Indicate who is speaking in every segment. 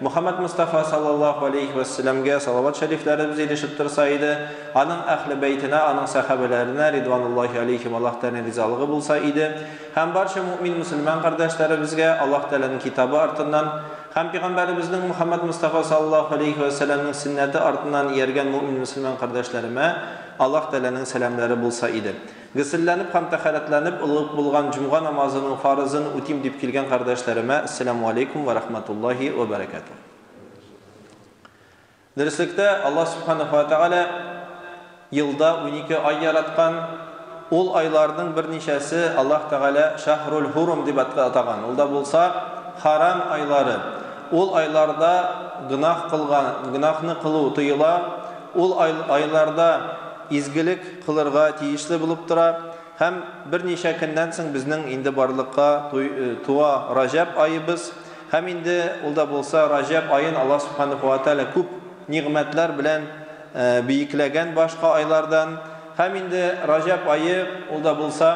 Speaker 1: Мөхәммәд Мостафа салләллаһу галәйһи вә сәләмгә салават шәрифләребез ирешеп торса иде, аның Әһле бәйтенә, аның сәхабәләренә, ридвануллаһи аләйһим, Аллаһ Тәгаләнең ризалыгы булса иде, һәм барча мөэмин мөселман кардәшләребезгә, Аллаһ Тәгаләнең Китабы артыннан һәм Пигамбәребезнең Мөхәммәд Мостафа салләллаһу галәйһи вә сәләмнең сөннәте артыннан ияргән мөэмин мөселман кардәшләремә Аллаһ Тәгаләнең сәламләре булса иде. Гөселләнеп һәм тәхәрәтләнеп олы ук булган җомга намазының фарызын үтим дип килгән кардәшләремә Әссәләмү алейкүм вә рахмәтуллаһи вә бәрәкәтүһ. Дөреслектә, Аллаһ Сүбхәнәһү вә Тәгалә елда унике ай яраткан, ул айларның берничәсе Аллаһ Тәгалә Шәһрул Һурум дип атаган, ул да булса, харам айлары. Ул айларда гөнаһ кылган, гөнаһны кылу тыела, ул айларда, изгелек кылырга тиешле булып тора һәм берничә көннән соң безнең инде барлыкка туа Раҗәб аебыз һәм инде ул да булса Раҗәб аен Аллаһ Субханәһү вә Тәгалә күп нигъмәтләр белән биекләгән башка айлардан һәм инде Раҗәб ае ул да булса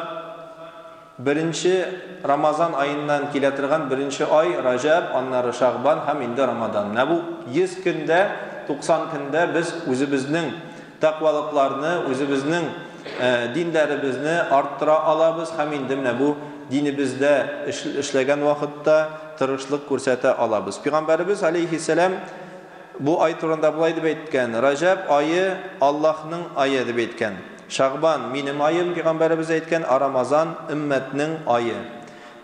Speaker 1: Беренче Рамазан аеннан килә торган беренче ай, Раҗәб, аннары Шәгъбан һәм инде Рамадан. Менә бу 100 көндә, 90 көндә без үзебезнең тәкъвалыкларны, үзебезнең динләребезне арттыра алабыз һәм инде менә бу динебездә эшләгән вакытта тырышлык күрсәтә алабыз. Пигамбәребез, галәйһиссәлам, бу ай турында болай дип әйткән, Раҗәб ае, Аллаһның ае, дип әйткән. Шәгъбан, минем аем, пигамбәребез әйткән, ә Рамазан, өммәтнең ае.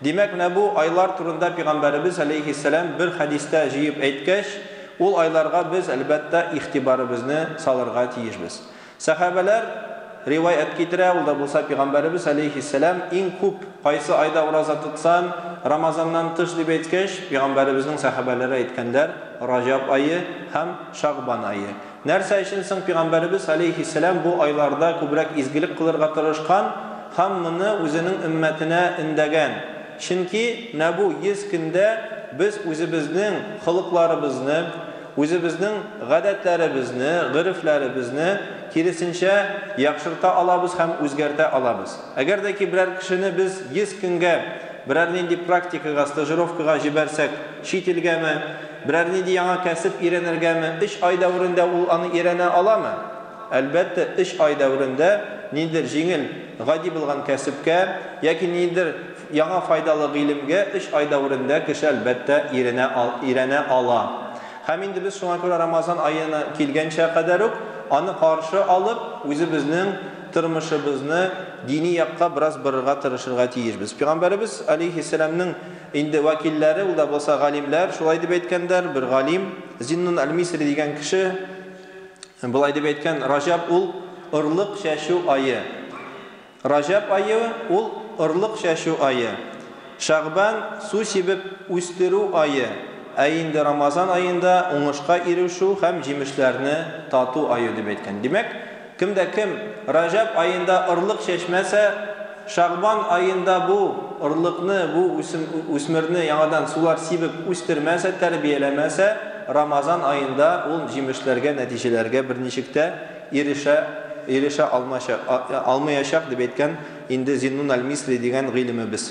Speaker 1: Димәк, менә бу айлар турында пигамбәребез, әләйһиссәлам, бер хәдистә җыеп әйткәч, ул айларга без, әлбәттә, игътибарыбызны салырга тиешбез. Сәхабәләр риваять китерә, ул да булса пигамбәребез, әләйһиссәлам, иң күп кайсы айда ураза тотсаң, Рамазаннан тыш, дип әйткәч, пигамбәребезнең сәхабәләре әйткәннәр, Раҗаб ае һәм Шәгъбан ае. Нәрсә өчен соң пигамбәребез, аләйһиссәлам, бу айларда күбрәк изгелек кылырга тырышкан һәм моны үзенең өммәтенә өндәгән? Чөнки менә бу 100 көндә без үзебезнең холыкларыбызны, үзебезнең гадәтләребезне, горефләребезне, киресенчә, яхшырта алабыз һәм үзгәртә алабыз. Әгәр дә ки берәр кешене без 100 көнгә берәр нинди практикага, стажировкага җибәрсәк, чит илгәме, Берәр нинди яңа кәсеп өйрәнергәме, эш ай дәверендә ул аны өйрәнә аламы? Әлбәттә, эш ай дәверендә ниндидер җиңел, гади булган кәсепкә яки ниндидер яңа файдалы гыйлемгә эш ай дәверендә кеше, әлбәттә, өйрәнә өйрәнә ала. Һәм инде без шуңа күрә Рамазан аена килгәнчә кадәр үк аны каршы алып, үзебезнең тормышыбызны дини якка бераз борырга тырышырга тиешбез. Пигамбәребез, алейһиссәламнең, Инде вәкилләре, ул да булса галимләр, шулай дип әйткәннәр, бер галим, Зиннун әл-Мисри дигән кеше болай дип әйткән, Раҗәб ул, орлык чәчү ае. Раҗәб ае ул, орлык чәчү ае. Шәгъбан, су сибеп үстерү ае, ә инде Рамазан аенда, уңышка ирешү һәм җимешләрне тату ае дип әйткән. Димәк, Кем дә кем Раҗәб аенда орлык чәчмәсә, Шәгъбан аенда бу орлыкны, бу үсмерне яңадан сулар сибеп үстермәсә, тәрбияләмәсә, Рамазан аенда ул җимешләргә, нәтиҗәләргә берничек тә ирешә ирешә алмаячак, дип әйткән инде Зиннун әл-Мисли дигән гыйлемебез.